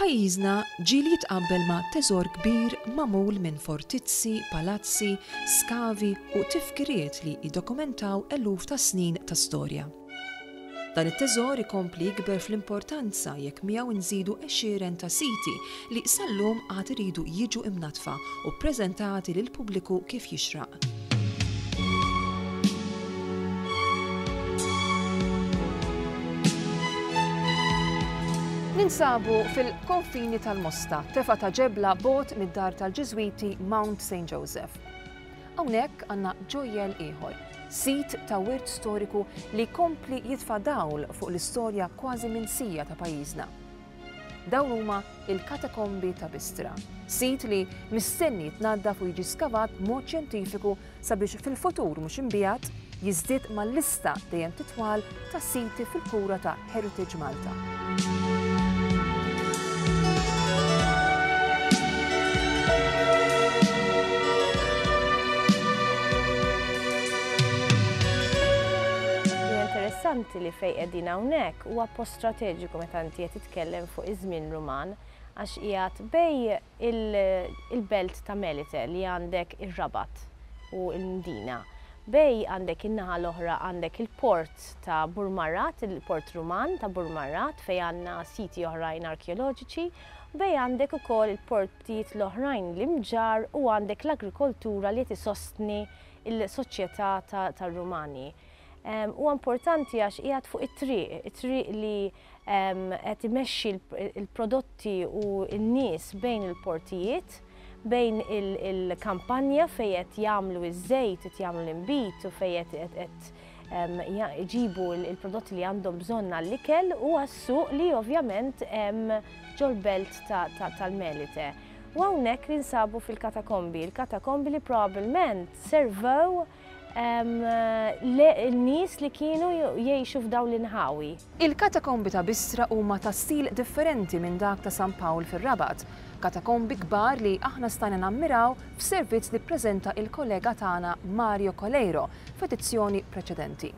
Pajjiżna ġieli jitqabbel ma' teżor kbir magħmul minn fortizzi, palazzi, skavi u tifkiriet li jiddokumentaw eluf ta' snin ta' storja. Dan it-teżor ikompli jikber fl-importanza jekk miegħu nżidu għexieren ta' siti li sal-lum għad iridu jiġu imnaddfa u ppreżentati lill-pubbliku kif jixraq. Ninsabu fil-konfini tal-Mosta, tefa ta' ġebla bogħod mid-dar tal-Ġiżwiti Mount Saint Joseph. Hawnhekk għandna ġojjell ieħor, sit ta' wirt storiku li jkompli jitfa' dawl fuq l-istorja kważi minsija ta' pajjiżna. Dawn huma l-Katakombi ta' Bistra, sit li mistenni jitnaddaf u jiġi skavat b'mod xjentifiku sabiex fil-futur mhux imbiegħed jiżdied mal-lista dejjem titwal ta' siti fil-kura ta' Heritage Malta. interessanti li fejn qegħdin hawnhekk huwa post strateġiku meta inti qed titkellem fuq iż-żmien Ruman għax qiegħed bejn il-belt ta' Melite li għandek ir-Rabat u l-Mdina bej għandek in-naħa l-oħra għandek il-port ta' Burmarrat, il-port Ruman ta' Burmarrat fejn għandna siti oħrajn arkeoloġiċi u bej għandek ukoll il-portijiet l-oħrajn l-imġarr u għandek l-agrikoltura li qed isostni l-soċjetà tar-Rumani. Huwa importanti għax qiegħed fuq it-triq, it-triq li qed imexxi l-prodotti u n-nies bejn il-portijiet, bejn il-kampanja fejn qed jagħmlu ż-żejt, qed jagħmlu l-inbid u fejn qed iġibu l-prodotti li għandhom bżonn għall-ikel u għas-suq li ovvjament hemm ġol-belt tal-Melite. U hawnhekk ninsabu fil-katakombi, il-katakombi li probabbilment servew n-nies li kienu jgħixu f'dawn l-inħawi. Il-katakombi ta' Bistra huma ta' stil differenti minn dak ta' San Pawl fir-Rabat, katakombi kbar li aħna stajna nammiraw f'servizz li ppreżenta il-kollega tagħna Mario Coleiro f'edizzjoni preċedenti.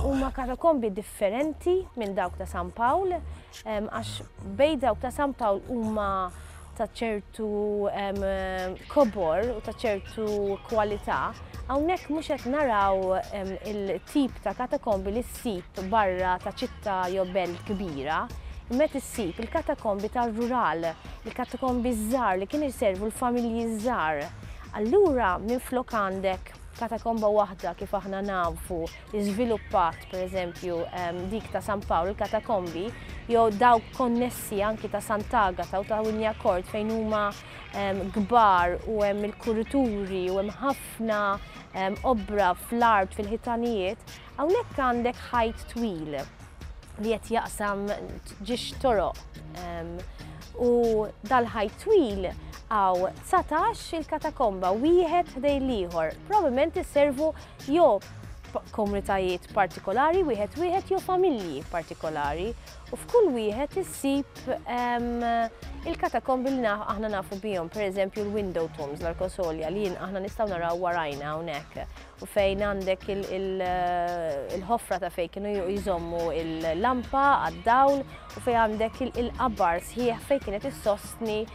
Huma katakombi differenti minn dawk ta' San Pawl, Għax bej dawk ta' San Pawl huma ta' ċertu kobor u ta' ċertu kwalità, hawnhekk mhux qed naraw il-tip ta' katakombi li ssib barra ta' ċittà jew belt kbira, imma qed issib il-katakombi tar-rural, il-katakombi ż-żgħar li kienu jservu l-familji ż-żgħar. Allura minflok għandek katakomba waħda kif aħna nafu żviluppat, pereżempju, dik ta' San Pawl, il-katakombi, jew dawk konnessi anki ta' Sant'Agata u ta' Winjakort fejn huma kbar u hemm il-kurituri u hemm ħafna obra fl-art fil-ħitanijiet, hawnhekk għandek ħajt twil li qed jaqsam ġiex toroq. U dal-ħajt twil għaw 19 il-katakomba, wieħed ħdej l-ieħor, probabbilment iservu jew f'komunitajiet partikolari wieħed wieħed jew familji partikolari u f'kull wieħed issib ehm, il-katakombi li aħna nafu bihom, pereżempju l-window tombs l-arkosolja li aħna nistgħu naraw warajna hawnhekk u fejn għandek eh, il-ħofra ta' fejn kienu jżommu il-lampa għad-dawl u fejn għandek il-qabar sħiħ fejn kienet issostni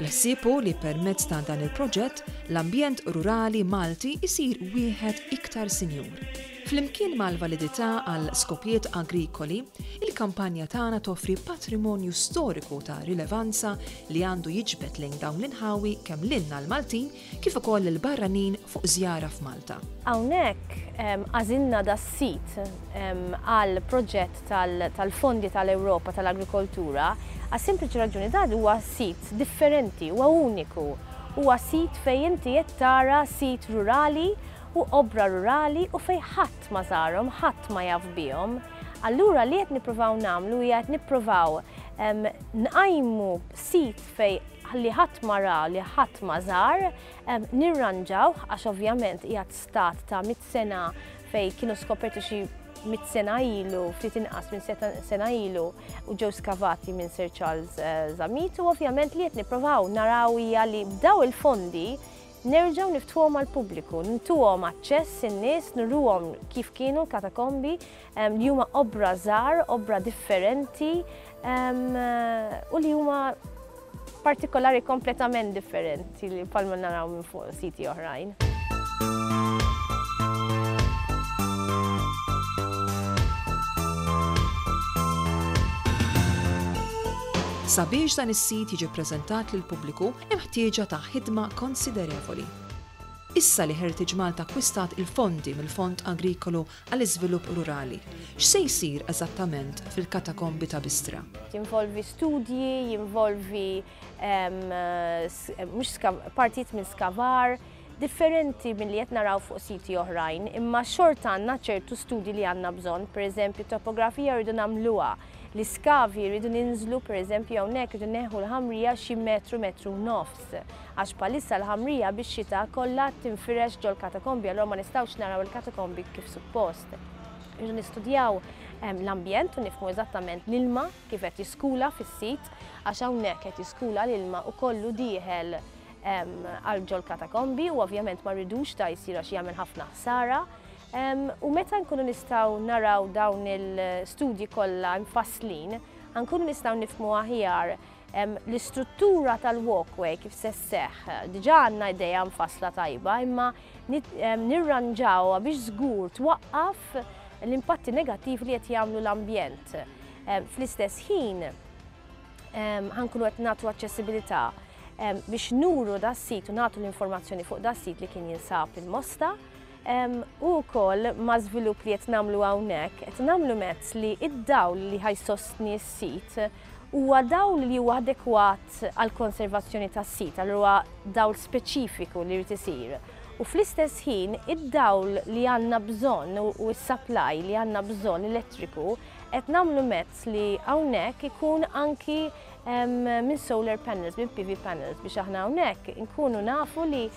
Il-ħsieb hu li permezz ta' dan il-proġett, l-ambjent rurali Malti jsir wieħed iktar sinjur. Flimkien mal-validità għal skopijiet agrikoli, il-kampanja tagħna toffri patrimonju storiku ta' rilevanza li għandu jiġbed lejn dawn l-inħawi kemm lilna l-Maltin kif ukoll lill-barranin fuq żjara f'Malta. Hawnhekk għażilna das-sit għal proġett tal-fondi tal-Ewropa tal-agrikoltura għas-sempliċi raġuni dan huwa sit differenti, huwa uniku. Huwa sit fejn inti qed tara sit rurali u obbra rurali u fejn ħadd ma żarhom, ħadd ma jaf bihom. Allura li qed nippruvaw nagħmlu hija qed nippruvaw nqajmu sit fejn li ħadd ma ra, li ħadd ma żar, nirranġawh għax ovvjament qiegħed stat ta' mit sena fejn kienu skoperti xi mit sena ilu, ftit inqas minn sena ilu, u ġew skavati minn Sir Charles eh, Zamit, u ovvjament li qed nipprovaw naraw hija li b'daw il-fondi nerġgħu niftuhom għal pubbliku, ntuhom aċċess in-nies, nurruhom kif kienu l-katakombi li huma obbra żgħar, obbra differenti u li huma partikolari kompletament differenti li palma naraw minn fuq siti oħrajn. Sabiex dan is-sit jiġi ppreżentat lill-pubbliku hemm ħtieġa ta' ħidma konsiderevoli. Issa li Heritage Malta akkwistat il-fondi mill-Fond Agrikolu għall-iżvilupp rurali, x'se jsir eżattament fil-katakombi ta' Bistra? Jinvolvi studji, jinvolvi partijiet minn skavar, differenti milli qed naraw fuq siti oħrajn, imma xorta għandna ċertu studji li għandna bżonn, pereżempju topografija rridu nagħmluha. l-iskavi rridu ninżlu pereżempju hawnhekk rridu neħu l-ħamrija xi metru metru u nofs. Għax bħalissa l-ħamrija bix-xita kollha tinfirex ġol-katakombi allura ma nistgħux naraw il-katakombi kif suppost. Irridu nistudjaw ehm, l-ambjent u nifhmu eżattament l-ilma kif qed jiskula fis-sit għax hawnhekk qed jiskula l-ilma u kollu dieħel ehm, għal ġol-katakombi u ovvjament ma rridux ta' jsir għax jagħmel ħafna ħsara U meta nkunu nistgħu naraw dawn il-studji kollha mfasslin, ħa nkunu nistgħu nifhmu aħjar l-istruttura tal-walkway kif se sseħħ. Diġà għandna idea mfassla tajba, imma nirranġawha biex żgur twaqqaf l-impatti negattivi li qed jagħmlu l-ambjent. Fl-istess ħin, ħa nkunu qed nagħtu aċċessibilità biex nuru das-sit u nagħtu l-informazzjoni fuq das-sit li kien jinsab il-Mosta, U wkoll ma' żvilupp li qed nagħmlu hawnhekk, qed nagħmlu mezz li d-dawl li ħa jsostni s-sit huwa dawl li huwa adekwat għall-konservazzjoni tas-sit, allura huwa dawl speċifiku li jrid isir. U fl-istess ħin id-dawl li għandna bżonn u s-supply li għandna bżonn elettriku qed nagħmlu mezz li hawnhekk ikun anki minn solar panels, minn PV panels biex aħna hawnhekk inkunu nafu li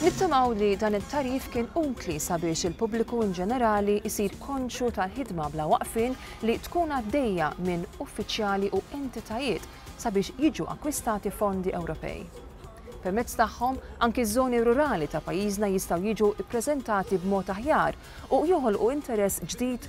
Nittamaw li dan it-tagħrif kien utli sabiex il-pubbliku in ġenerali jsir konxju tal-ħidma bla waqfien li tkun għaddejja minn uffiċjali u entitajiet sabiex jiġu akkwistati fondi Ewropej. Permezz tagħhom, anki ż-żoni rurali ta' pajjiżna jistgħu jiġu ppreżentati b'mod aħjar u joħolqu interess ġdid